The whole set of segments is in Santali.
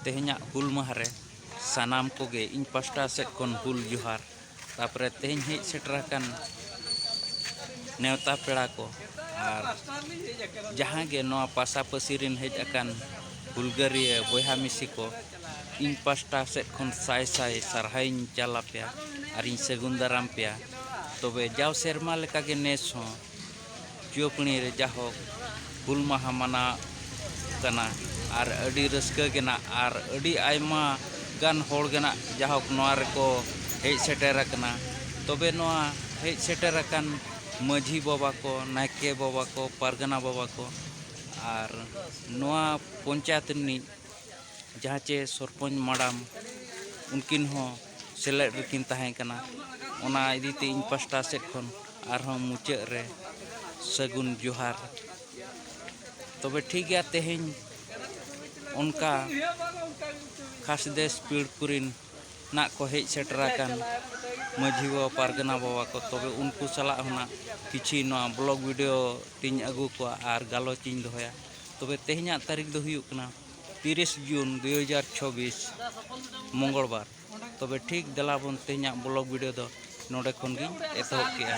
ᱛᱮᱦᱮᱧᱟᱜ ᱦᱩᱞ ᱢᱟᱦᱟ ᱨᱮ ᱥᱟᱱᱟᱢ ᱠᱚᱜᱮ ᱤᱧ ᱯᱟᱥᱴᱟ ᱥᱮᱫ ᱠᱷᱚᱱ ᱦᱩᱞ ᱡᱚᱦᱟᱨ ᱛᱟᱯᱚᱨᱮ ᱛᱮᱦᱮᱧ ᱦᱮᱡ ᱥᱮᱴᱮᱨ ᱟᱠᱟᱱ ᱱᱮᱣᱛᱟ ᱯᱮᱲᱟ ᱠᱚ ᱟᱨ ᱡᱟᱦᱟᱸ ᱜᱮ ᱱᱚᱣᱟ ᱯᱟᱥᱟᱯᱟᱹᱥᱤ ᱨᱮᱱ ᱦᱮᱡ ᱟᱠᱟᱱ ᱦᱩᱞᱜᱟᱹᱨᱤᱭᱟᱹ ᱵᱚᱭᱦᱟ ᱢᱤᱥᱤ ᱠᱚ ᱤᱧ ᱯᱟᱥᱴᱟ ᱥᱮᱫ ᱠᱷᱚᱱ ᱥᱟᱭ ᱥᱟᱭ ᱥᱟᱨᱦᱟᱣᱤᱧ ᱪᱟᱞ ᱟᱯᱮᱭᱟ ᱟᱨᱤᱧ ᱥᱟᱹᱜᱩᱱ ᱫᱟᱨᱟᱢ ᱯᱮᱭᱟ ᱛᱚᱵᱮ ᱡᱟᱣ ᱥᱮᱨᱢᱟ ᱞᱮᱠᱟᱜᱮ ᱱᱮᱥ ᱦᱚᱸ ᱪᱩᱭᱟᱹᱯᱟᱹᱬᱤ ᱨᱮ ᱡᱟᱦᱚᱠ ᱦᱩᱞ ᱢᱟᱦᱟ ᱢᱟᱱᱟᱜ ᱠᱟᱱᱟ ᱟᱨ ᱟᱹᱰᱤ ᱨᱟᱹᱥᱠᱟᱹ ᱜᱮ ᱱᱟᱜ ᱟᱨ ᱟᱹᱰᱤ ᱟᱭᱢᱟ ᱜᱟᱱ ᱦᱚᱲ ᱜᱮ ᱱᱟᱜ ᱡᱟᱦᱚᱠ ᱱᱚᱣᱟ ᱨᱮᱠᱚ ᱦᱮᱡ ᱥᱮᱴᱮᱨ ᱟᱠᱟᱱᱟ ᱛᱚᱵᱮ ᱱᱚᱣᱟ ᱦᱮᱡ ᱥᱮᱴᱮᱨ ᱟᱠᱟᱱ ᱢᱟᱹᱡᱷᱤ ᱵᱟᱵᱟ ᱠᱚ ᱱᱟᱭᱠᱮ ᱵᱟᱵᱟ ᱠᱚ ᱯᱟᱨᱜᱟᱱᱟ ᱵᱟᱵᱟ ᱠᱚ ᱟᱨ ᱱᱚᱣᱟ ᱯᱚᱧᱪᱟᱭᱮᱛ ᱨᱤᱱᱤᱡ ᱡᱟᱦᱟᱸ ᱪᱮ ᱥᱚᱨᱯᱚᱧᱡᱽ ᱢᱟᱰᱟᱢ ᱩᱱᱠᱤᱱ ᱦᱚᱸ ᱥᱮᱞᱮᱫ ᱨᱮᱠᱤᱱ ᱛᱟᱦᱮᱸ ᱠᱟᱱᱟ ᱚᱱᱟ ᱤᱫᱤ ᱛᱮ ᱤᱧ ᱯᱟᱥᱴᱟ ᱥᱮᱫ ᱠᱷᱚᱱ ᱟᱨᱦᱚᱸ ᱢᱩᱪᱟᱹᱫ ᱨᱮ ᱥᱟᱹᱜᱩᱱ ᱡᱚᱦᱟᱨ ᱛᱚᱵᱮ ᱴᱷᱤᱠ ᱜᱮᱭᱟ ᱛᱮᱦᱮᱧ ᱚᱱᱠᱟ ᱠᱷᱟᱥᱫᱮᱥ ᱯᱤᱲ ᱠᱚᱨᱮᱱ ᱱᱟᱜ ᱠᱚ ᱦᱮᱡ ᱥᱮᱴᱮᱨ ᱟᱠᱟᱱ ᱢᱟᱹᱡᱷᱤ ᱵᱟᱵᱟ ᱯᱟᱨᱜᱟᱱᱟ ᱵᱟᱵᱟ ᱠᱚ ᱛᱚᱵᱮ ᱩᱱᱠᱩ ᱥᱟᱞᱟᱜ ᱦᱚᱸ ᱱᱟᱜ ᱠᱤᱪᱷᱤ ᱱᱚᱣᱟ ᱵᱞᱚᱜᱽ ᱵᱷᱤᱰᱤᱭᱳ ᱛᱤᱧ ᱟᱹᱜᱩ ᱠᱚᱣᱟ ᱟᱨ ᱜᱟᱞᱚᱪ ᱤᱧ ᱫᱚᱦᱚᱭᱟ ᱛᱚᱵᱮ ᱛᱮᱦᱮᱧᱟᱜ ᱛᱟᱹᱨᱤᱠᱷ ᱫᱚ ᱦᱩᱭᱩᱜ ᱠᱟᱱᱟ ᱛᱤᱨᱤᱥ ᱡᱩᱱ ᱫᱩᱭ ᱦᱟᱡᱟᱨ ᱪᱷᱚᱵᱤᱥ ᱢᱚᱝᱜᱚᱞ ᱵᱟᱨ ᱛᱚᱵᱮ ᱴᱷᱤᱠ ᱫᱮᱞᱟ ᱵᱚᱱ ᱛᱮᱦᱮᱧᱟᱜ ᱵᱞᱚᱜ ᱵᱷᱤᱰᱤᱭᱳ ᱫᱚ ᱱᱚᱰᱮ ᱠᱷᱚᱱ ᱜᱤᱧ ᱮᱛᱚᱦᱚᱵ ᱠᱮᱜᱼᱟ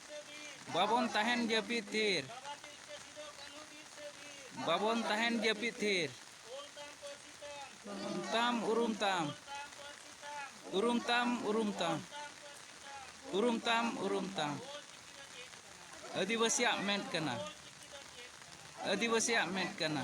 ᱵᱟᱵᱚᱱ ᱛᱟᱦᱮᱱ ᱡᱟᱹᱯᱤᱫ ᱛᱷᱤᱨ ᱵᱟᱵᱚᱱ ᱛᱟᱦᱮᱱ ᱡᱟᱹᱯᱤᱫ ᱛᱷᱤᱨ ᱩᱨᱩᱢ ᱛᱟᱢ ᱩᱨᱩᱢ ᱛᱟᱢ ᱩᱨᱩᱢ ᱛᱟᱢ ᱩᱨᱩᱢ ᱛᱟᱢ ᱩᱨᱩᱢ ᱛᱟᱢ ᱩᱨᱩᱢ ᱛᱟᱢ ᱟᱹᱫᱤᱵᱟᱹᱥᱤᱭᱟᱜ ᱢᱮᱫ ᱠᱟᱱᱟ ᱟᱹᱫᱤᱵᱟᱹᱥᱤᱭᱟᱜ ᱢᱮᱫ ᱠᱟᱱᱟ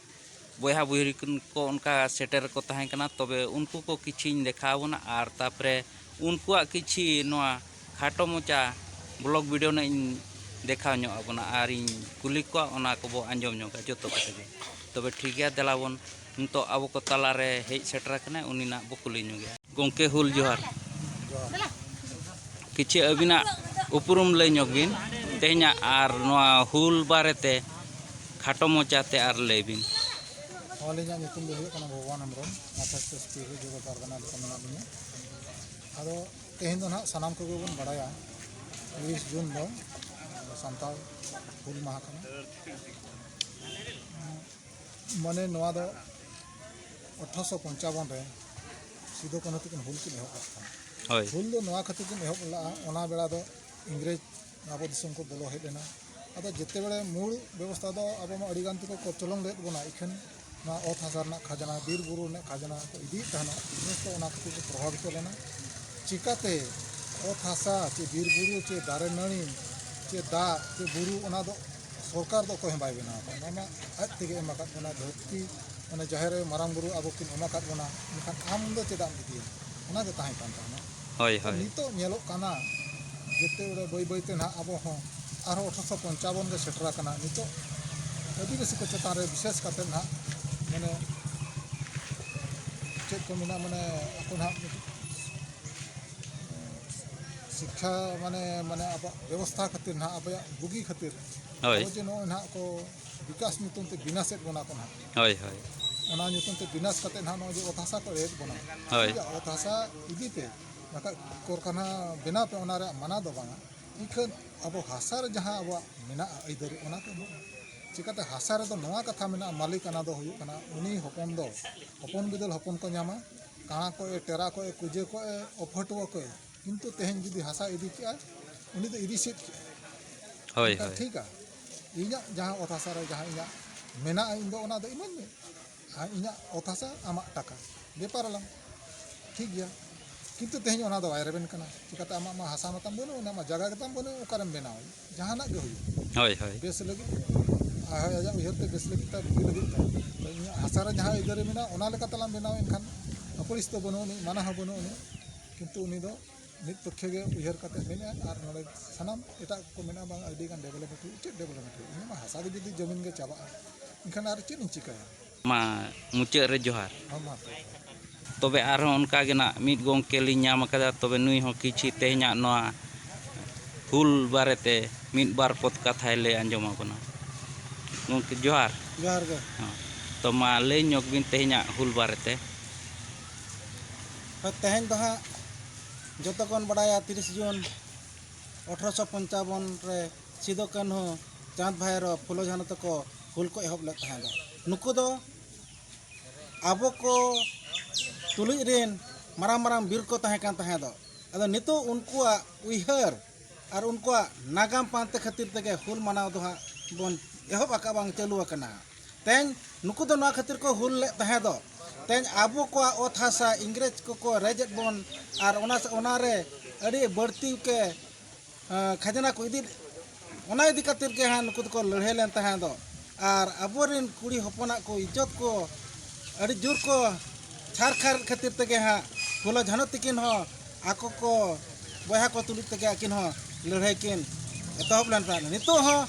ᱵᱚᱭᱦᱟ ᱵᱚᱭᱦᱤ ᱠᱚ ᱚᱱᱠᱟ ᱥᱮᱴᱮᱨ ᱠᱚ ᱛᱟᱦᱮᱸ ᱠᱟᱱᱟ ᱛᱚᱵᱮ ᱩᱱᱠᱩ ᱠᱚ ᱠᱤᱪᱷᱤᱧ ᱫᱮᱠᱷᱟᱣ ᱵᱚᱱᱟ ᱟᱨ ᱛᱟᱯᱚᱨᱮ ᱩᱱᱠᱩᱣᱟᱜ ᱠᱤᱪᱷᱤ ᱱᱚᱣᱟ ᱠᱷᱟᱴᱚ ᱢᱚᱪᱟ ᱵᱞᱚᱜᱽ ᱵᱷᱤᱰᱤᱭᱳ ᱱᱟᱜ ᱤᱧ ᱫᱮᱠᱷᱟᱣ ᱧᱚᱜ ᱟᱵᱚᱱᱟ ᱟᱨ ᱤᱧ ᱠᱩᱞᱤ ᱠᱚᱣᱟ ᱚᱱᱟ ᱠᱚᱵᱚ ᱟᱸᱡᱚᱢ ᱧᱚᱜᱟ ᱡᱚᱛᱚ ᱠᱟᱛᱷᱟ ᱜᱮ ᱛᱚᱵᱮ ᱴᱷᱤᱠ ᱜᱮᱭᱟ ᱫᱮᱞᱟ ᱵᱚᱱ ᱱᱤᱛᱚᱜ ᱟᱵᱚ ᱠᱚ ᱛᱟᱞᱟ ᱨᱮ ᱦᱮᱡ ᱥᱮᱴᱮᱨ ᱟᱠᱟᱱᱟᱭ ᱩᱱᱤ ᱱᱟᱜ ᱵᱚ ᱠᱩᱞᱤ ᱧᱚᱜᱮᱭᱟ ᱜᱚᱢᱠᱮ ᱦᱩᱞ ᱡᱚᱦᱟᱨ ᱠᱤᱪᱷᱩ ᱟᱹᱵᱤᱱᱟᱜ ᱩᱯᱨᱩᱢ ᱞᱟᱹᱭ ᱧᱚᱜ ᱵᱤᱱ ᱛᱮᱦᱮᱧᱟᱜ ᱟᱨ ᱱᱚᱣᱟ ᱦᱩᱞ ᱵᱟᱨᱮᱛᱮ ᱠᱷᱟᱴᱚ ᱢᱚᱪᱟᱛᱮ ᱟᱨ ᱞᱟᱹᱭ ᱵᱤᱱ ᱟᱹᱞᱤᱧᱟᱜ ᱧᱩᱛᱩᱢ ᱫᱚ ᱦᱩᱭᱩᱜ ᱠᱟᱱᱟ ᱵᱷᱚᱜᱚᱵᱟᱱ ᱦᱮᱢᱵᱨᱚᱢ ᱢᱟᱛᱟᱥ ᱥᱚᱥᱛᱤ ᱨᱮ ᱡᱚᱜᱚ ᱯᱟᱨᱜᱟᱱᱟ ᱨᱮ ᱢᱮᱱᱟᱜ ᱞᱤᱧᱟ ᱟᱫᱚ ᱛᱮᱦᱮᱧ ᱫᱚ ᱱᱟᱦᱟᱜ ᱥᱟᱱᱟᱢ ᱠᱚᱜᱮ ᱵᱚᱱ ᱵᱟᱲᱟᱭᱟ ᱛᱤᱨᱤᱥ ᱡᱩᱱ ᱫᱚ ᱥᱟᱱᱛᱟᱲ ᱦᱩᱞ ᱢᱟᱦᱟ ᱠᱟᱱᱟ ᱢᱟᱱᱮ ᱱᱚᱣᱟ ᱫᱚ ᱟᱴᱷᱨᱚᱥᱚ ᱯᱚᱧᱪᱟᱵᱚᱱ ᱨᱮ ᱥᱤᱫᱩ ᱠᱟᱹᱱᱦᱩ ᱛᱟᱹᱠᱤᱱ ᱦᱩᱞ ᱠᱤᱱ ᱮᱦᱚᱵ ᱞᱮᱫ ᱛᱟᱦᱮᱸᱫ ᱦᱳᱭ ᱦᱩᱞ ᱫᱚ ᱱᱚᱣᱟ ᱠᱷᱟᱹᱛᱤᱨ ᱠᱤᱱ ᱮᱦᱚᱵ ᱞᱮᱫᱼᱟ ᱚᱱᱟ ᱵᱮᱲᱟ ᱫᱚ ᱤᱝᱨᱮᱡᱽ ᱟᱵᱚ ᱫᱤᱥᱚᱢ ᱠᱚ ᱵᱚᱞᱚ ᱦᱮᱡ ᱞᱮᱱᱟ ᱟᱫᱚ ᱡᱮᱛᱮ ᱵᱮᱲᱮ ᱢᱩᱲ ᱵᱮᱵᱚᱥᱛᱷᱟ ᱫᱚ ᱟᱵᱚ ᱢᱟ ᱟᱹᱰᱤ ᱜᱟᱱ ᱛᱮᱠᱚ ᱠᱚᱪᱚᱞᱚᱱ ᱞᱮᱫ ᱵᱚᱱᱟ ᱤᱠᱷᱟᱹᱱ ᱱᱚᱣᱟ ᱚᱛ ᱦᱟᱥᱟ ᱨᱮᱱᱟᱜ ᱠᱷᱟᱡᱽᱱᱟ ᱵᱤᱨ ᱵᱩᱨᱩ ᱨᱮᱱᱟᱜ ᱠᱷᱟᱡᱽᱱᱟ ᱠᱚ ᱤᱫᱤᱭᱮᱫ ᱛᱟᱦᱮᱱᱟ ᱤᱝᱨᱮᱡᱽ ᱠᱚ ᱚᱱᱟ ᱠᱷᱟᱹᱛᱤᱨ ᱠᱚ ᱯᱨᱚᱵᱷᱟᱵᱤᱛᱚ ᱞᱮᱱᱟ ᱪᱤᱠᱟᱹᱛᱮ ᱚᱛ ᱦᱟᱥᱟ ᱪᱮ ᱵᱤᱨ ᱵᱩᱨᱩ ᱪᱮ ᱫᱟᱨᱮ ᱱᱟᱹᱲᱤ ᱪᱮ ᱫᱟᱜ ᱪᱮ ᱵᱩᱨᱩ ᱚᱱᱟ ᱫᱚ ᱥᱚᱨᱠᱟᱨ ᱫᱚ ᱚᱠᱚᱭ ᱦᱚᱸ ᱵᱟᱭ ᱵᱮᱱᱟᱣ ᱟᱠᱟᱫ ᱵᱚᱱᱟ ᱟᱡ ᱛᱮᱜᱮ ᱮᱢ ᱟᱠᱟᱫ ᱵᱚᱱᱟ ᱫᱷᱟᱹᱨᱛᱤ ᱢᱟᱱᱮ ᱡᱟᱦᱮᱨ ᱟᱭᱳ ᱢᱟᱨᱟᱝ ᱵᱩᱨᱩ ᱟᱵᱚ ᱠᱤᱱ ᱮᱢ ᱟᱠᱟᱫ ᱵᱚᱱᱟ ᱢᱮᱱᱠᱷᱟᱱ ᱟᱢ ᱫᱚ ᱪᱮᱫᱟᱜ ᱮᱢ ᱤᱫᱤᱭᱟ ᱚᱱᱟ ᱜᱮ ᱛᱟᱦᱮᱸ ᱠᱟᱱ ᱛᱟᱦᱮᱱᱟ ᱦᱳᱭ ᱦᱳᱭ ᱱᱤᱛᱚᱜ ᱧᱮᱞᱚᱜ ᱠᱟᱱᱟ ᱡᱮᱛᱮ ᱵᱟᱹᱭ ᱵᱟᱹᱭ ᱵᱟᱹᱭᱛᱮ ᱱᱟᱦᱟᱜ ᱟᱵᱚ ᱦᱚᱸ ᱟᱨᱦᱚᱸ ᱟᱴᱷᱨᱚᱥᱚ ᱯᱚᱧᱪᱟᱵᱚᱱ ᱨᱮ ᱥᱮᱴᱮᱨ ᱟᱠᱟᱱᱟ ᱱᱤᱛᱚᱜ ᱟᱹᱫᱤᱵᱟᱹᱥᱤ ᱠᱚ ᱪᱮᱛᱟᱱ ᱨᱮ ᱵᱤᱥᱮᱥ ᱠᱟᱛᱮ ᱱᱟᱦᱟᱜ ᱢᱟᱱᱮ ᱪᱮᱫ ᱠᱚ ᱢᱮᱱᱟ ᱢᱟᱱᱮ ᱟᱠᱚ ᱱᱟᱦᱟᱜ ᱥᱤᱠᱠᱷᱟ ᱢᱟᱱᱮ ᱢᱟᱱᱮ ᱟᱵᱚᱣᱟᱜ ᱵᱮᱵᱚᱥᱛᱷᱟ ᱠᱷᱟᱹᱛᱤᱨ ᱱᱟᱦᱟᱜ ᱟᱵᱚᱭᱟᱜ ᱵᱩᱜᱤ ᱠᱷᱟᱹᱛᱤᱨ ᱦᱳᱭ ᱟᱵᱚ ᱡᱮ ᱱᱚᱜᱼᱚᱭ ᱱᱟᱦᱟᱜ ᱠᱚ ᱵᱤᱠᱟᱥ ᱧᱩᱛᱩᱢ ᱛᱮ ᱵᱤᱱᱟᱥᱮᱫ ᱵᱚᱱᱟ ᱠᱚ ᱱᱟᱦᱟᱜ ᱦᱳᱭ ᱦᱳᱭ ᱚᱱᱟ ᱧᱩᱛᱩᱢ ᱛᱮ ᱵᱤᱱᱟᱥ ᱠᱟᱛᱮ ᱱᱟᱦᱟᱜ ᱱᱚᱜᱼᱚᱭ ᱡᱮ ᱚᱛ ᱦᱟᱥᱟ ᱠᱚ ᱮᱲᱮᱫ ᱵᱚᱱᱟ ᱦᱳᱭ ᱴᱷᱤᱠ ᱜᱮᱭᱟ ᱚᱛ ᱦᱟᱥᱟ ᱤᱫᱤ ᱯᱮ ᱵᱟᱠᱷᱟᱡ ᱠᱚᱨᱠᱷᱟᱱᱟ ᱵᱮᱱᱟᱣ ᱯᱮ ᱚᱱᱟ ᱨᱮᱭᱟᱜ ᱢᱟᱱᱟ ᱫᱚ ᱵᱟᱝᱟ ᱤᱠᱷᱟᱹᱱ ᱟᱵᱚ ᱦᱟᱥᱟ ᱨᱮ ᱡᱟᱦᱟᱸ ᱟᱵᱚᱣᱟᱜ ᱢᱮᱱᱟᱜᱼᱟ ᱟᱹᱭᱫᱟᱹᱨᱤ ᱚᱱᱟ ᱠᱚ ᱮᱢᱚᱜ ᱢᱮ ᱪᱤᱠᱟᱹᱛᱮ ᱦᱟᱥᱟ ᱨᱮᱫᱚ ᱱᱚᱣᱟ ᱠᱟᱛᱷᱟ ᱢᱮᱱᱟᱜᱼᱟ ᱢᱟᱹᱞᱤᱠᱟᱱᱟ ᱫᱚ ᱦᱩᱭᱩᱜ ᱠᱟᱱᱟ ᱩᱱᱤ ᱦᱚᱯᱚᱱ ᱫᱚ ᱦᱚᱯᱚᱱ ᱵᱤᱫᱟᱹᱞ ᱦᱚᱯᱚᱱ ᱠᱚ ᱧᱟᱢᱟ ᱠᱟᱬᱟ ᱠᱚᱭᱮ ᱴᱮᱨᱟ ᱠᱚᱭᱮ ᱠᱩᱡᱟᱹ ᱠᱚᱭᱮ ᱚᱯᱷᱟᱹᱴᱩᱣᱟᱹ ᱠᱚᱭᱮ ᱠᱤᱱᱛᱩ ᱛᱮᱦᱮᱧ ᱡᱩᱫᱤ ᱦᱟᱥᱟ ᱤᱫᱤ ᱠᱮᱜᱼᱟ ᱩᱱᱤ ᱫᱚ ᱤᱫᱤ ᱥᱮᱫ ᱠᱮᱜᱼᱟ ᱦᱳᱭ ᱦᱳᱭ ᱴᱷᱤᱠᱟ ᱤᱧᱟᱹᱜ ᱡᱟᱦᱟᱸ ᱚᱛ ᱦᱟᱥᱟ ᱨᱮ ᱡᱟᱦᱟᱸ ᱤᱧᱟᱹᱜ ᱢᱮᱱᱟᱜᱼᱟ ᱤᱧ ᱫᱚ ᱚᱱᱟ ᱫᱚ ᱤᱢᱟᱹᱧ ᱢᱮ ᱟᱨ ᱤᱧᱟᱹᱜ ᱚᱛ ᱦᱟᱥᱟ ᱟᱢᱟᱜ ᱴᱟᱠᱟ ᱵᱮᱯᱟᱨ ᱟᱞᱟᱝ ᱴᱷᱤᱠ ᱜᱮᱭᱟ ᱠᱤᱱᱛᱩ ᱛᱮᱦᱮᱧ ᱚᱱᱟ ᱫᱚ ᱵᱟᱭ ᱨᱮᱵᱮᱱ ᱠᱟᱱᱟ ᱪᱤᱠᱟᱹᱛᱮ ᱟᱢᱟᱜ ᱢᱟ ᱦᱟᱥᱟ ᱢᱟᱛᱟᱢ ᱵᱟᱹᱱᱩᱜ ᱟᱢᱟᱜ ᱢᱟ ᱡᱟᱭᱜᱟ ᱜᱮᱛᱟᱢ ᱵᱟᱹᱱᱩᱜ ᱚᱠᱟᱨᱮᱢ ᱵᱮᱱᱟᱣᱟ ᱡᱟᱦᱟᱱᱟᱜ ᱜᱮ ᱦᱩᱭᱩᱜ ᱦᱳᱭ ᱦᱳᱭ ᱵᱮᱥ ᱞᱟᱹᱜᱤᱫ ᱟᱨ ᱦᱳᱭ ᱟᱡᱟᱜ ᱩᱭᱦᱟᱹᱨ ᱛᱮ ᱵᱮᱥ ᱞᱟᱹᱜᱤᱫ ᱛᱟᱭ ᱵᱩᱜᱤ ᱞᱟᱹᱜᱤᱫ ᱛᱟᱭ ᱛᱚ ᱤᱧᱟᱹᱜ ᱦᱟᱥᱟ ᱨᱮ ᱡᱟᱦᱟᱸ ᱟᱹᱭᱫᱟᱹᱨᱤ ᱢᱮᱱᱟᱜᱼᱟ ᱚᱱᱟ ᱞᱮᱠᱟ ᱛᱮᱞᱟᱝ ᱵᱮᱱᱟᱣ ᱮᱱᱠᱷᱟᱱ ᱟᱹᱯᱟᱹᱲᱤᱥ ᱫᱚ ᱵᱟᱹᱱᱩᱜ ᱟᱹᱱᱤᱡ ᱢᱟᱱᱟ ᱦᱚᱸ ᱵᱟᱹᱱᱩᱜ ᱟᱹᱱᱤᱡ ᱠᱤᱱᱛᱩ ᱩᱱᱤ ᱫᱚ ᱢᱤᱫ ᱯᱚᱠᱠᱷᱮ ᱜᱮ ᱩᱭᱦᱟᱹᱨ ᱠᱟᱛᱮ ᱢᱮᱱᱮᱫᱼᱟᱭ ᱟᱨ ᱱᱚᱰᱮ ᱥᱟᱱᱟᱢ ᱮᱴᱟᱜ ᱠᱚ ᱠᱚ ᱢᱮᱱᱮᱫᱼᱟ ᱵᱟᱝ ᱟᱹᱰᱤ ᱜᱟᱱ ᱰᱮᱵᱷᱞᱚᱯᱢᱮᱱᱴ ᱦᱩᱭᱩᱜᱼᱟ ᱪᱮᱫ ᱰᱮᱵᱷᱞᱚᱯᱢᱮᱱᱴ ᱦᱩᱭᱩᱜᱼᱟ ᱤᱧᱟᱹᱜ ᱢᱟ ᱦᱟᱥᱟ ᱜᱮ ᱡᱩᱫᱤ ᱡᱚᱢᱤᱱ ᱜᱮ ᱪᱟᱵᱟᱜᱼᱟ ᱮᱱᱠᱷᱟᱱ ᱟᱨ ᱪᱮᱫ ᱤᱧ ᱪᱤᱠᱟᱹᱭᱟ ᱢᱟ ᱢᱩᱪᱟᱹᱫ ᱨᱮ ᱡᱚᱦᱟᱨ ᱦᱚᱸ ᱢᱟ ᱛᱚᱵᱮ ᱛᱚᱵᱮ ᱟᱨᱦᱚᱸ ᱚᱱᱠᱟ ᱜᱮ ᱱᱟᱜ ᱢᱤᱫ ᱜᱚᱢᱠᱮ ᱞᱤᱧ ᱧᱟᱢ ᱟᱠᱟᱫᱟ ᱛᱚᱵᱮ ᱱᱩᱭ ᱦᱚᱸ ᱠᱤᱪᱷᱤ ᱛᱮᱦᱮᱧᱟᱜ ᱱᱚᱣᱟ ᱦᱩᱞ ᱵᱟᱨᱮ ᱛᱮ ᱢᱤᱫ ᱵᱟᱨ ᱯᱚᱫ ᱠᱟᱛᱷᱟᱭ ᱞᱟᱹᱭ ᱟᱸᱡᱚᱢ ᱟᱵᱚᱱᱟ ᱜᱚᱢᱠᱮ ᱡᱚᱦᱟᱨ ᱡᱚᱦᱟᱨ ᱜᱮ ᱦᱚᱸ ᱛᱚ ᱢᱟ ᱞᱟᱹᱭ ᱧᱚᱜᱽ ᱵᱤᱱ ᱛᱮᱦᱮᱧᱟᱜ ᱦᱩᱞ ᱵᱟᱨᱮ ᱛᱮ ᱛᱮᱦᱮᱧ ᱫᱚ ᱦᱟᱸᱜ ᱡᱚᱛᱚ ᱠᱚᱵᱚᱱ ᱵᱟᱲᱟᱭᱟ ᱛᱤᱨᱤᱥ ᱡᱩᱱ ᱟᱴᱷᱨᱚᱥᱚ ᱯᱚᱧᱪᱟᱵᱚᱱ ᱨᱮ ᱥᱤᱫᱩ ᱠᱟᱹᱱᱦᱩ ᱪᱟᱸᱫᱽ ᱵᱷᱟᱭᱨᱳ ᱯᱷᱩᱞᱳ ᱡᱷᱟᱱᱳ ᱛᱟᱠᱚ ᱦᱩᱞ ᱠᱚ ᱮᱦᱚᱵ ᱞᱮᱫ ᱛᱟᱦᱮᱸᱫ ᱱᱩᱠᱩ ᱫᱚ ᱟᱵᱚ ᱠᱚ ᱛᱩᱞᱩᱡ ᱨᱮᱱ ᱢᱟᱨᱟᱝ ᱢᱟᱨᱟᱝ ᱵᱤᱨ ᱠᱚ ᱛᱟᱦᱮᱸ ᱠᱟᱱ ᱛᱟᱦᱮᱸ ᱫᱚ ᱟᱫᱚ ᱱᱤᱛᱚᱜ ᱩᱱᱠᱩᱣᱟᱜ ᱩᱭᱦᱟᱹᱨ ᱟᱨ ᱩᱱᱠᱩᱣᱟᱜ ᱱᱟᱜᱟᱢ ᱯᱟᱱᱛᱮ ᱠᱷᱟᱹᱛᱤᱨ ᱛᱮᱜᱮ ᱦᱩᱞ ᱢᱟᱱᱟᱣ ᱫᱚ ᱦᱟᱸᱜ ᱵᱚᱱ ᱮᱦᱚᱵ ᱟᱠᱟᱫᱼᱟ ᱵᱟᱝ ᱪᱟᱹᱞᱩ ᱟᱠᱟᱱᱟ ᱛᱮᱦᱮᱧ ᱱᱩᱠᱩ ᱫᱚ ᱱᱚᱣᱟ ᱠᱷᱟᱹᱛᱤᱨ ᱠᱚ ᱦᱩᱞ ᱞᱮᱫ ᱛᱟᱦᱮᱸ ᱫᱚ ᱛᱮᱦᱮᱧ ᱟᱵᱚ ᱠᱚᱣᱟᱜ ᱚᱛ ᱦᱟᱥᱟ ᱤᱝᱨᱮᱡᱽ ᱠᱚᱠᱚ ᱨᱮᱡᱮᱫ ᱵᱚᱱ ᱟᱨ ᱚᱱᱟ ᱚᱱᱟ ᱨᱮ ᱟᱹᱰᱤ ᱵᱟᱹᱲᱛᱤ ᱜᱮ ᱠᱷᱟᱡᱽᱱᱟ ᱠᱚ ᱤᱫᱤ ᱚᱱᱟ ᱤᱫᱤ ᱠᱟᱛᱮᱫ ᱜᱮ ᱦᱟᱸᱜ ᱱᱩᱠᱩ ᱫᱚᱠᱚ ᱞᱟᱹᱲᱦᱟᱹᱭ ᱞᱮᱱ ᱛᱟᱦᱮᱸ ᱫᱚ ᱟᱨ ᱟᱵᱚᱨᱮᱱ ᱠᱩᱲᱤ ᱦᱚᱯᱚᱱᱟᱜ ᱠᱚ ᱤᱡᱽᱡᱚᱛ ᱠᱚ ᱟᱹᱰᱤ ᱡᱳᱨ ᱠᱚ ᱪᱷᱟᱨ ᱠᱷᱟᱨ ᱠᱷᱟᱹᱛᱤᱨ ᱛᱮᱜᱮ ᱦᱟᱸᱜ ᱯᱷᱩᱞᱚ ᱡᱷᱟᱱᱚ ᱛᱤᱠᱤᱱ ᱦᱚᱸ ᱟᱠᱚ ᱠᱚ ᱵᱚᱭᱦᱟ ᱠᱚ ᱛᱩᱞᱩᱡ ᱛᱮᱜᱮ ᱟᱹᱠᱤᱱ ᱦᱚᱸ ᱞᱟᱹᱲᱦᱟᱹᱭ ᱠᱤᱱ ᱮᱛᱚᱦᱚᱵ ᱞᱮᱱ ᱛᱟᱦᱮᱸᱫ ᱱᱤᱛᱚᱜ ᱦᱚᱸ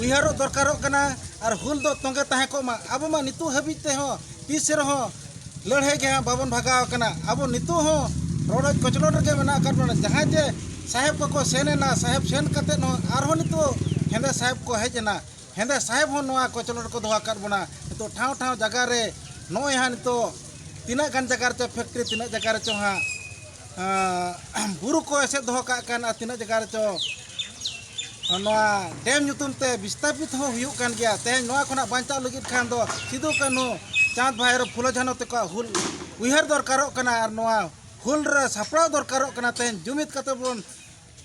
ᱩᱭᱦᱟᱹᱨᱚᱜ ᱫᱚᱨᱠᱟᱨᱚᱜ ᱠᱟᱱᱟ ᱟᱨ ᱦᱩᱞ ᱫᱚ ᱛᱚᱸᱜᱮ ᱛᱟᱦᱮᱸ ᱠᱚᱜ ᱢᱟ ᱟᱵᱚ ᱢᱟ ᱱᱤᱛᱚᱜ ᱦᱟᱹᱵᱤᱡ ᱛᱮᱦᱚᱸ ᱛᱤᱥ ᱨᱮᱦᱚᱸ ᱞᱟᱹᱲᱦᱟᱹᱭ ᱜᱮ ᱦᱟᱸᱜ ᱵᱟᱵᱚᱱ ᱵᱷᱟᱜᱟᱣ ᱠᱟᱱᱟ ᱟᱵᱚ ᱱᱤᱛᱚᱜ ᱦᱚᱸ ᱨᱚᱰᱚᱡ ᱠᱚᱪᱞᱚᱱ ᱨᱮᱜᱮ ᱢᱮᱱᱟᱜ ᱟᱠᱟᱫ ᱵᱚᱱᱟ ᱡᱟᱦᱟᱸᱭ ᱡᱮ ᱥᱟᱦᱮᱵᱽ ᱠᱚᱠᱚ ᱥᱮᱱ ᱮᱱᱟ ᱥᱟᱦᱮᱵᱽ ᱥᱮᱱ ᱠᱟᱛᱮᱫ ᱦᱚᱸ ᱟᱨᱦᱚᱸ ᱱᱤᱛᱚᱜ ᱦᱮᱸᱫᱮ ᱥᱟᱦᱮᱵᱽ ᱠᱚ ᱦᱮᱡ ᱮᱱᱟ ᱦᱮᱸᱫᱮ ᱥᱟᱦᱮᱵᱽ ᱦᱚᱸ ᱱᱚᱣᱟ ᱠᱚᱪᱞᱚᱱ ᱨᱮᱠᱚ ᱫᱚᱦᱚ ᱟᱠᱟᱫ ᱵᱚᱱᱟ ᱱᱤᱛᱚᱜ ᱴᱷᱟᱶ ᱴᱷᱟᱶ ᱡᱟᱭᱜᱟ ᱨᱮ ᱱᱚᱜᱼᱚᱭ ᱦᱟᱸᱜ ᱱᱤᱛᱚᱜ ᱛᱤᱱᱟᱹᱜ ᱜᱟᱱ ᱡᱟᱭᱜᱟ ᱨᱮᱪᱚ ᱯᱷᱮᱠᱴᱨᱤ ᱛᱤᱱᱟᱹᱜ ᱡᱟᱭᱜᱟ ᱨᱮᱪᱚ ᱦᱟᱸᱜ ᱵᱩᱨᱩ ᱠᱚ ᱮᱥᱮᱫ ᱫᱚᱦᱚ ᱠᱟᱜ ᱠᱟᱱ ᱟᱨ ᱛᱤᱱᱟᱹᱜ ᱡᱟᱭᱜᱟ ᱨᱮᱪᱚ ᱱᱚᱣᱟ ᱰᱮᱢ ᱧᱩᱛᱩᱢ ᱛᱮ ᱵᱤᱥᱛᱟᱯᱤᱛ ᱦᱚᱸ ᱦᱩᱭᱩᱜ ᱠᱟᱱ ᱜᱮᱭᱟ ᱛᱮᱦᱮᱧ ᱱᱚᱣᱟ ᱠᱷᱚᱱᱟᱜ ᱵᱟᱧᱪᱟᱣ ᱞᱟᱹᱜᱤᱫ ᱠᱷᱟᱱ ᱫᱚ ᱥᱤᱫᱩ ᱠᱟᱹᱱᱦᱩ ᱪᱟᱸᱫᱽ ᱵᱷᱟᱭᱨᱚ ᱯᱷᱩᱞᱚ ᱡᱷᱟᱱᱚ ᱛᱮᱠᱚᱣᱟᱜ ᱦᱩᱞ ᱩᱭᱦᱟᱹᱨ ᱫᱚᱨᱠᱟᱨᱚᱜ ᱠᱟᱱᱟ ᱟᱨ ᱱᱚᱣᱟ ᱦᱩᱞ ᱨᱮ ᱥᱟᱯᱲᱟᱣ ᱫᱚᱨᱠᱟᱨᱚᱜ ᱠᱟᱱᱟ ᱛᱮᱦᱮᱧ ᱡᱩᱢᱤᱫ ᱠᱟᱛᱮ ᱵᱚᱱ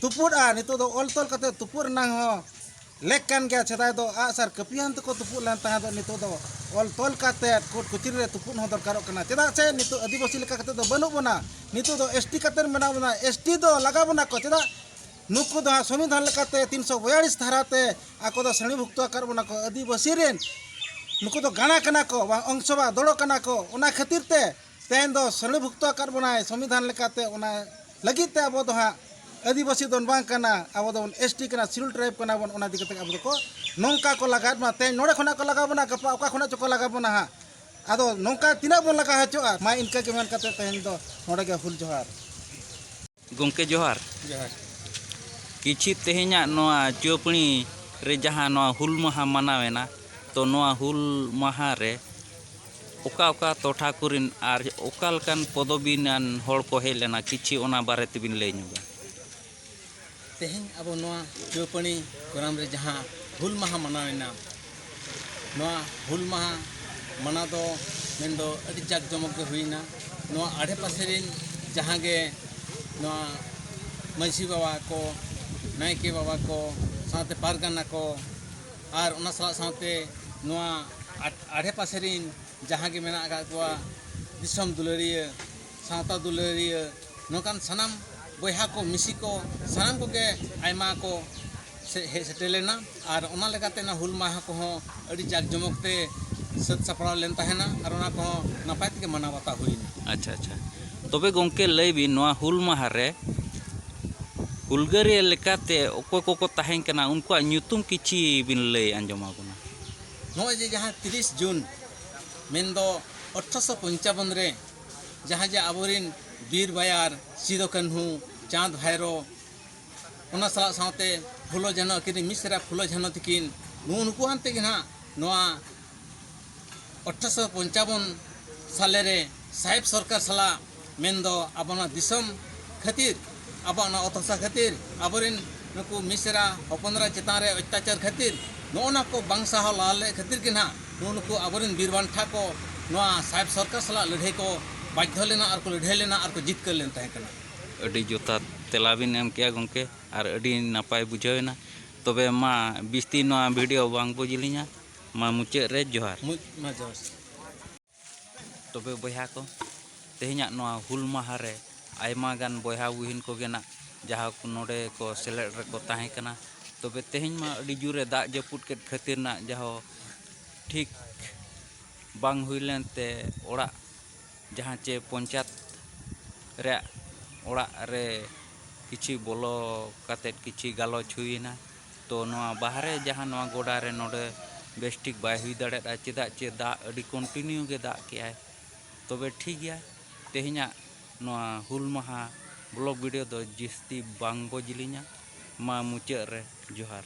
ᱛᱩᱯᱩᱫᱼᱟ ᱱᱤᱛᱚᱜ ᱫᱚ ᱚᱞ ᱛᱚᱞ ᱠᱟᱛᱮ ᱛᱩᱯᱩᱫ ᱨᱮᱱᱟᱝ ᱦᱚᱸ ᱞᱮᱠ ᱠᱟᱱ ᱜᱮᱭᱟ ᱥᱮᱫᱟᱭ ᱫᱚ ᱟᱜ ᱥᱟᱨ ᱠᱟᱹᱯᱤᱭᱟᱱ ᱛᱮᱠᱚ ᱛᱩᱯᱩᱫ ᱞᱮᱱ ᱛᱟᱦᱮᱸ ᱫᱚ ᱱᱤᱛᱚᱜ ᱫᱚ ᱚᱞ ᱛᱚᱞ ᱠᱟᱛᱮ ᱠᱳᱨᱴ ᱠᱚᱪᱨᱤ ᱨᱮ ᱛᱩᱯᱩᱫ ᱦᱚᱸ ᱫᱚᱨᱠᱟᱨᱚᱜ ᱠᱟᱱᱟ ᱪᱮᱫᱟᱜ ᱥᱮ ᱱᱤᱛᱚᱜ ᱟᱹᱫᱤᱵᱟᱹᱥᱤ ᱞᱮᱠᱟ ᱠᱟᱛᱮ ᱫᱚ ᱵᱟᱹᱱᱩᱜ ᱵᱚᱱᱟ ᱱᱤᱛᱚᱜ ᱫᱚ ᱮᱥ ᱴᱤ ᱠᱟᱛᱮ ᱢᱮᱱᱟᱜ ᱵᱚᱱᱟ ᱮᱥ ᱴᱤ ᱫᱚ ᱞᱟᱜᱟ ᱵᱚᱱᱟ ᱠᱚ ᱪᱮᱫᱟᱜ ᱱᱩᱠᱩ ᱫᱚ ᱦᱟᱸᱜ ᱥᱚᱝᱵᱤᱫᱷᱟᱱ ᱞᱮᱠᱟᱛᱮ ᱛᱤᱱᱥᱚ ᱵᱚᱭᱟᱞᱤᱥ ᱫᱷᱟᱨᱟ ᱛᱮ ᱟᱠᱚ ᱫᱚ ᱥᱨᱮᱬᱤ ᱵᱷᱩᱠᱛᱚ ᱟᱠᱟᱫ ᱵᱚᱱᱟ ᱠᱚ ᱟᱹᱫᱤᱵᱟᱹᱥᱤ ᱨᱮᱱ ᱱᱩᱠᱩ ᱫᱚ ᱜᱟᱬᱟ ᱠᱟᱱᱟ ᱠᱚ ᱵᱟᱝ ᱚᱝᱥᱚ ᱵᱟ ᱫᱚᱲᱚ ᱠᱟᱱᱟ ᱠᱚ ᱚᱱᱟ ᱠᱷᱟᱹᱛᱤᱨ ᱛᱮ ᱛᱮᱦᱮᱧ ᱫᱚ ᱥᱚᱞᱮᱵᱷᱩᱠᱛᱚ ᱟᱠᱟᱫ ᱵᱚᱱᱟᱭ ᱥᱚᱢᱵᱤᱫᱷᱟᱱ ᱞᱮᱠᱟᱛᱮ ᱚᱱᱟ ᱞᱟᱹᱜᱤᱫ ᱛᱮ ᱟᱵᱚ ᱫᱚ ᱦᱟᱸᱜ ᱟᱹᱫᱤᱵᱟᱹᱥᱤ ᱫᱚ ᱵᱟᱝ ᱠᱟᱱᱟ ᱟᱵᱚ ᱫᱚ ᱮᱥ ᱴᱤ ᱠᱟᱱᱟ ᱥᱤᱰᱩᱞ ᱴᱨᱟᱭᱤᱵᱽ ᱠᱟᱱᱟ ᱵᱚᱱ ᱚᱱᱟ ᱤᱫᱤ ᱠᱟᱛᱮ ᱟᱵᱚ ᱫᱚᱠᱚ ᱱᱚᱝᱠᱟ ᱠᱚ ᱞᱟᱜᱟᱭᱮᱫ ᱵᱚᱱᱟ ᱛᱮᱦᱮᱧ ᱱᱚᱰᱮ ᱠᱷᱚᱱᱟᱜ ᱠᱚ ᱞᱟᱜᱟ ᱵᱚᱱᱟ ᱜᱟᱯᱟ ᱚᱠᱟ ᱠᱷᱚᱱᱟᱜ ᱪᱚᱠᱚ ᱞᱟᱜᱟ ᱵᱚᱱᱟ ᱦᱟᱸᱜ ᱟᱫᱚ ᱱᱚᱝᱠᱟ ᱛᱤᱱᱟᱹᱜ ᱵᱚᱱ ᱞᱟᱜᱟ ᱦᱚᱪᱚᱜᱼᱟ ᱢᱟ ᱤᱱᱠᱟᱹ ᱜᱮ ᱢᱮᱱ ᱠᱟᱛᱮ ᱛᱮᱦᱮᱧ ᱫᱚ ᱱᱚᱰᱮ ᱜᱮ ᱦᱩᱞ ᱡᱚᱦᱟᱨ ᱜᱚᱢᱠᱮ ᱡᱚᱦᱟᱨ ᱡᱚᱦᱟᱨ ᱠᱤᱪᱷᱤ ᱛᱮᱦᱮᱧᱟᱜ ᱱᱚᱣᱟ ᱪᱩᱣᱟᱹᱯᱟᱹᱬᱤ ᱨᱮ ᱡᱟᱦᱟᱸ ᱱᱚᱣᱟ ᱦᱩᱞ ᱢᱟᱦᱟ ᱢᱟᱱᱟᱣ ᱮᱱᱟ ᱛᱚ ᱱᱚᱣᱟ ᱦᱩᱞ ᱢᱟᱦᱟ ᱨᱮ ᱚᱠᱟ ᱚᱠᱟ ᱴᱚᱴᱷᱟ ᱠᱚᱨᱮᱱ ᱟᱨ ᱚᱠᱟ ᱞᱮᱠᱟᱱ ᱯᱚᱫᱚᱵᱤ ᱨᱮᱱ ᱦᱚᱲ ᱠᱚ ᱦᱮᱡ ᱞᱮᱱᱟ ᱠᱤᱪᱷᱤ ᱚᱱᱟ ᱵᱟᱨᱮ ᱛᱮᱵᱤᱱ ᱞᱟᱹᱭ ᱧᱚᱜᱟ ᱛᱮᱦᱮᱧ ᱟᱵᱚ ᱱᱚᱣᱟ ᱪᱩᱣᱟᱹᱯᱟᱹᱱᱤ ᱜᱚᱨᱟᱢ ᱨᱮ ᱡᱟᱦᱟᱸ ᱦᱩᱞ ᱢᱟᱦᱟ ᱢᱟᱱᱟᱣ ᱮᱱᱟ ᱱᱚᱣᱟ ᱦᱩᱞ ᱢᱟᱦᱟ ᱢᱟᱱᱟᱣ ᱫᱚ ᱢᱮᱱ ᱫᱚ ᱟᱹᱰᱤ ᱡᱟᱠ ᱡᱚᱢᱚᱠ ᱜᱮ ᱦᱩᱭᱮᱱᱟ ᱱᱚᱣᱟ ᱟᱰᱮ ᱯᱟᱥᱮ ᱨᱮᱱ ᱡᱟᱦᱟᱸ ᱜᱮ ᱱᱚᱣᱟ ᱢᱟᱹᱡᱷᱤ ᱵᱟᱵᱟ ᱠᱚ ᱱᱟᱭᱠᱮ ᱵᱟᱵᱟ ᱠᱚ ᱥᱟᱶᱛᱮ ᱯᱟᱨᱜᱟᱱᱟ ᱠᱚ ᱟᱨ ᱚᱱᱟ ᱥᱟᱞᱟᱜ ᱥᱟᱶᱛᱮ ᱱᱚᱣᱟ ᱟᱰᱮ ᱯᱟᱥᱮ ᱨᱮᱱ ᱡᱟᱦᱟᱸ ᱜᱮ ᱢᱮᱱᱟᱜ ᱟᱠᱟᱫ ᱠᱚᱣᱟ ᱫᱤᱥᱚᱢ ᱫᱩᱞᱟᱹᱲᱤᱭᱟᱹ ᱥᱟᱶᱛᱟ ᱫᱩᱞᱟᱹᱲᱤᱭᱟᱹ ᱱᱚᱝᱠᱟᱱ ᱥᱟᱱᱟᱢ ᱵᱚᱭᱦᱟ ᱠᱚ ᱢᱤᱥᱤ ᱠᱚ ᱥᱟᱱᱟᱢ ᱠᱚᱜᱮ ᱟᱭᱢᱟ ᱠᱚ ᱦᱮᱡ ᱥᱮᱴᱮᱨ ᱞᱮᱱᱟ ᱟᱨ ᱚᱱᱟ ᱞᱮᱠᱟᱛᱮ ᱚᱱᱟ ᱦᱩᱞ ᱢᱟᱦᱟ ᱠᱚᱦᱚᱸ ᱟᱹᱰᱤ ᱡᱟᱠ ᱡᱚᱢᱚᱠ ᱛᱮ ᱥᱟᱹᱛ ᱥᱟᱯᱲᱟᱣ ᱞᱮᱱ ᱛᱟᱦᱮᱱᱟ ᱟᱨ ᱚᱱᱟ ᱠᱚᱦᱚᱸ ᱱᱟᱯᱟᱭ ᱛᱮᱜᱮ ᱢᱟᱱᱟᱣ ᱵᱟᱛᱟᱣ ᱦᱩᱭᱱᱟ ᱟᱪᱪᱷᱟ ᱟᱪᱪᱷᱟ ᱛᱚᱵᱮ ᱜᱚᱝᱠᱮ ᱞᱟᱹᱭ ᱵᱤᱱ ᱱᱚᱣᱟ ᱦᱩᱞ ᱢᱟᱦᱟ ᱨᱮ ᱦᱩᱞᱜᱟᱹᱨᱤᱭᱟᱹ ᱞᱮᱠᱟᱛᱮ ᱚᱠᱚᱭ ᱠᱚᱠᱚ ᱛᱟᱦᱮᱸ ᱠᱟᱱᱟ ᱩᱱᱠᱩᱣᱟᱜ ᱧᱩᱛᱩᱢ ᱠᱤᱪᱷᱤ ᱵᱤᱱ ᱞᱟᱹᱭ ᱟᱸᱡᱚᱢ ᱟᱵᱚᱱᱟ ᱱᱚᱜᱼᱚᱭ ᱡᱮ ᱡᱟᱦᱟᱸ ᱛᱤᱨᱤᱥ ᱡᱩᱱ ᱢᱮᱱᱫᱚ ᱟᱴᱷᱨᱚᱥᱚ ᱯᱚᱧᱪᱟᱵᱚᱱ ᱨᱮ ᱡᱟᱦᱟᱸ ᱡᱮ ᱟᱵᱚᱨᱤᱱ ᱵᱤᱨ ᱵᱟᱭᱟᱨ ᱥᱤᱫᱚ ᱠᱟᱹᱱᱦᱩ ᱪᱟᱸᱫᱽ ᱵᱷᱟᱭᱨᱚ ᱚᱱᱟ ᱥᱟᱞᱟᱜ ᱥᱟᱶᱛᱮ ᱯᱷᱩᱞᱚ ᱡᱷᱟᱱᱚ ᱟᱹᱠᱤᱱ ᱢᱤᱫ ᱥᱮᱨᱟ ᱯᱷᱩᱞᱚ ᱡᱷᱟᱱᱚ ᱛᱟᱹᱠᱤᱱ ᱱᱩᱜᱼᱩ ᱱᱩᱠᱩ ᱟᱱ ᱛᱮᱜᱮ ᱱᱟᱦᱟᱜ ᱱᱚᱣᱟ ᱟᱴᱷᱨᱚᱥᱚ ᱯᱚᱧᱪᱟᱵᱚᱱ ᱥᱟᱞᱮ ᱨᱮ ᱥᱟᱦᱮᱵᱽ ᱥᱚᱨᱠᱟᱨ ᱥᱟᱞᱟᱜ ᱢᱮᱱᱫᱚ ᱟᱵᱚ ᱱᱚᱣᱟ ᱫᱤᱥᱚᱢ ᱠᱷᱟᱹᱛᱤᱨ ᱟᱵᱚ ᱚᱱᱟ ᱚᱛ ᱦᱟᱥᱟ ᱠᱷᱟᱹᱛᱤᱨ ᱟᱵᱚᱨᱮᱱ ᱱᱩᱠᱩ ᱢᱤᱥᱨᱟ ᱦᱚᱯᱚᱱᱨᱟ ᱪᱮᱛᱟᱱ ᱨᱮ ᱚᱛᱛᱟᱪᱟᱨ ᱠᱷᱟᱹᱛᱤᱨ ᱱᱚᱜᱼᱚ ᱱᱟ ᱠᱚ ᱵᱟᱝ ᱥᱟᱦᱟᱣ ᱞᱟᱦᱟ ᱞᱮᱫ ᱠᱷᱟᱹᱛᱤᱨ ᱜᱮ ᱱᱟᱦᱟᱜ ᱱᱩᱜᱼᱩ ᱱᱩᱠᱩ ᱟᱵᱚᱨᱮᱱ ᱵᱤᱨ ᱵᱟᱱᱴᱟ ᱠᱚ ᱱᱚᱣᱟ ᱥᱟᱦᱮᱵᱽ ᱥᱚᱨᱠᱟᱨ ᱥᱟᱞᱟᱜ ᱞᱟᱹᱲᱦᱟᱹᱭ ᱠᱚ ᱵᱟᱫᱽᱫᱷᱚ ᱞᱮᱱᱟ ᱟᱨ ᱠᱚ ᱞᱟᱹᱲᱦᱟᱹᱭ ᱞᱮᱱᱟ ᱟᱨ ᱠᱚ ᱡᱤᱛᱠᱟᱹᱨ ᱞᱮᱱ ᱛᱟᱦᱮᱸ ᱠᱟᱱᱟ ᱟᱹᱰᱤ ᱡᱚᱛᱷᱟᱛ ᱛᱮᱞᱟ ᱵᱤᱱ ᱮᱢ ᱠᱮᱜᱼᱟ ᱜᱚᱢᱠᱮ ᱟᱨ ᱟᱹᱰᱤ ᱱᱟᱯᱟᱭ ᱵᱩᱡᱷᱟᱹᱣ ᱮᱱᱟ ᱛᱚᱵᱮ ᱢᱟ ᱵᱤᱥᱛᱤ ᱱᱚᱣᱟ ᱵᱷᱤᱰᱤᱭᱳ ᱵᱟᱝ ᱵᱚ ᱡᱤᱞᱤᱧᱟ ᱢᱟ ᱢᱩᱪᱟᱹᱫ ᱨᱮ ᱡᱚᱦᱟᱨ ᱢᱩᱪ ᱢᱟ ᱡᱚᱦᱟᱨ ᱛᱚᱵᱮ ᱵᱚᱭᱦᱟ ᱠᱚ ᱛᱮᱦᱮᱧᱟᱜ ᱱᱚᱣᱟ ᱦᱩᱞ ᱢᱟᱦᱟ ᱨᱮ ᱟᱭᱢᱟ ᱜᱟᱱ ᱵᱚᱭᱦᱟ ᱵᱩᱦᱤᱱ ᱠᱚᱜᱮ ᱱᱟᱜ ᱡᱟᱦᱟᱸ ᱠᱚ ᱱᱚᱰᱮ ᱠᱚ ᱥᱮᱞᱮᱫ ᱨᱮᱠᱚ ᱛᱟᱦᱮᱸ ᱠᱟᱱᱟ ᱛᱚᱵᱮ ᱛᱮᱦᱮᱧ ᱢᱟ ᱟᱹᱰᱤ ᱡᱳᱨᱮ ᱫᱟᱜ ᱡᱟᱹᱯᱩᱫ ᱠᱮᱫ ᱠᱷᱟᱹᱛᱤᱨ ᱱᱟᱜ ᱡᱟᱦᱳ ᱴᱷᱤᱠ ᱵᱟᱝ ᱦᱩᱭ ᱞᱮᱱ ᱛᱮ ᱚᱲᱟᱜ ᱡᱟᱦᱟᱸ ᱪᱮ ᱯᱚᱧᱪᱟᱭᱮᱛ ᱨᱮᱭᱟᱜ ᱚᱲᱟᱜ ᱨᱮ ᱠᱤᱪᱷᱩ ᱵᱚᱞᱚ ᱠᱟᱛᱮᱫ ᱠᱤᱪᱷᱩ ᱜᱟᱞᱚᱪ ᱦᱩᱭᱮᱱᱟ ᱛᱚ ᱱᱚᱣᱟ ᱵᱟᱦᱨᱮ ᱡᱟᱦᱟᱸ ᱱᱚᱣᱟ ᱜᱚᱰᱟ ᱨᱮ ᱱᱚᱰᱮ ᱵᱮᱥ ᱴᱷᱤᱠ ᱵᱟᱭ ᱦᱩᱭ ᱫᱟᱲᱮᱭᱟᱫᱟ ᱪᱮᱫᱟᱜ ᱪᱮ ᱫᱟᱜ ᱟᱹᱰᱤ ᱠᱚᱱᱴᱤᱱᱤᱭᱩ ᱜᱮ ᱫᱟᱜ ᱠᱮᱜᱼᱟᱭ ᱛᱚᱵᱮ ᱴᱷᱤᱠ ᱜᱮᱭᱟ ᱛᱮᱦᱮᱧᱟᱜ ᱱᱚᱣᱟ ᱦᱩᱞ ᱢᱟᱦᱟ ᱵᱞᱚᱜᱽ ᱵᱷᱤᱰᱤᱭᱳ ᱫᱚ ᱡᱟᱹᱥᱛᱤ ᱵᱟᱝ ᱵᱚ ᱡᱤᱞᱤᱧᱟ ᱢᱟ ᱢᱩᱪᱟᱹᱫ ᱨᱮ ᱡᱚᱦᱟᱨ